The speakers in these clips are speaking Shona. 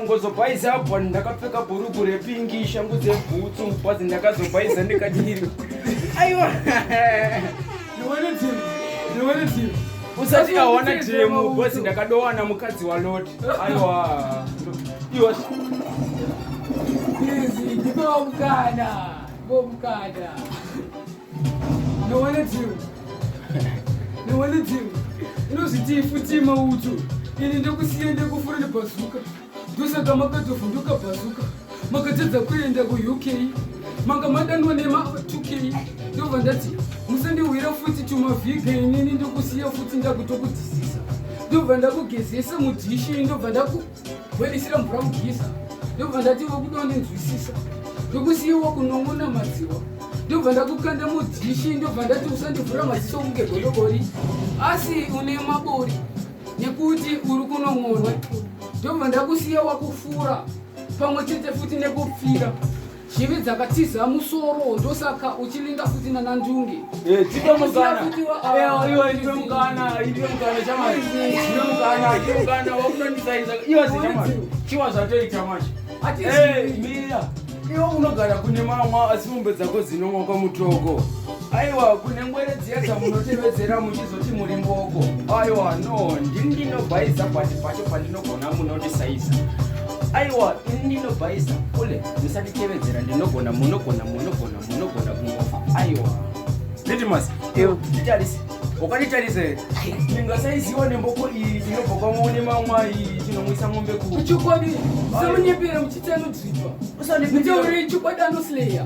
Kungozobhaiza apa ndakapfeka bhuruku repingi shangu dzebhutsu bhazi ndakazobhaiza ndikadiri. Aiwa. Ndiwane team. Ndiwane team. Usati awana team bhazi ndakadowana mukadzi wa Lord. Aiwa. Iwa. Yes, ndiko mukana. Ndiko mukana. inozvitii futi mautu ini ndokusiya ndekufura nebhazuka ndosaka makatovhunduka bhazuka makatadza kuenda kuuk manga madanwa nema2k ndobva ndati musandihwira futi tumavhiga inini ndokusiya futi ndakutokudisisa ndobva ndakugezesa mudhishi ndobva ndaku Bhoilisira mvura mugisa ndobva ndati wekuda ndinzwisisa ndokusiiwa kunong'ona madziwa ndobva ndakukanda mudhishi ndobva ndati usandivhura maziso kunge godobori asi une mabori nekuti uri kunong'onwa ndobva ndakusiya wakufura pamwe chete futi nekupfira Chivi dzakatiza musoro ndosaka uchilinga futi nana ndunge. Eh, tipe mukana. Eh, iwe tipe mukana, tipe mukana chamari. Tipe mukana, tipe mukana wakunondisaiza. Iwe chamari. Chiwa zvatoita manje. Eh, mira. Iwe unogara kune mama asi mombe dzako dzinomwa kwamutoko. aiwa kune ngwere dziya dzamunotevedzera muchizoti muri mboko aiwa no ndini ndinobhaiza pati pacho pandinogona munondisaiza aiwa ini ndinobhaiza kule musatitevedzera ndinogona munogona munogona munogona kungofa aiwa litimas nditarisi ukanditarisa here ndingasaiziwa nemboko iyi tinobva kwamone mamwa iyi tinomwisa mombe kuchikwadi semunyepera muchitsanudzinwa usandiiteurei chikwadi anoslayer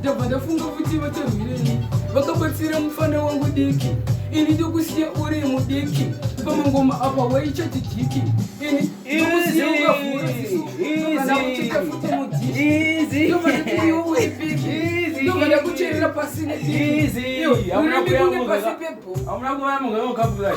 ndabva ndafunga kuti vacharwirei vakabatsira mufana wangu diki ini ndokusiya uri mudiki pamangoma apa waichati diki ini ndokusiya ukavhura sisu ndozauchitafuta mudiki ndovada kucherera pasi nediki iwe urambi kunge pasi pebho amuna kuvamugaokabulai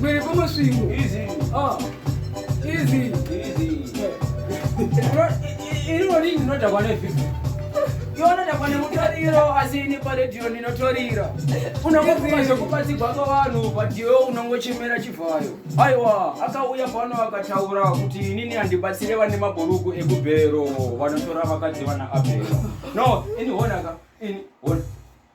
Mwiri kumusvingo. Easy. Ah. Easy. Easy. Iri wori ndinoda kwane vipi? Yona kwane mutoriro asi ini paredhiyo ndinotorira. Unongofuma zvekubatsirwa kwavanhu but iwe unongochemera chivhayo. Aiwa, akauya pano akataura kuti inini handibatsire vane mabhuruku ekubhero vanotora vakadzi vana Abhero. No, ini honaka. Ini hona.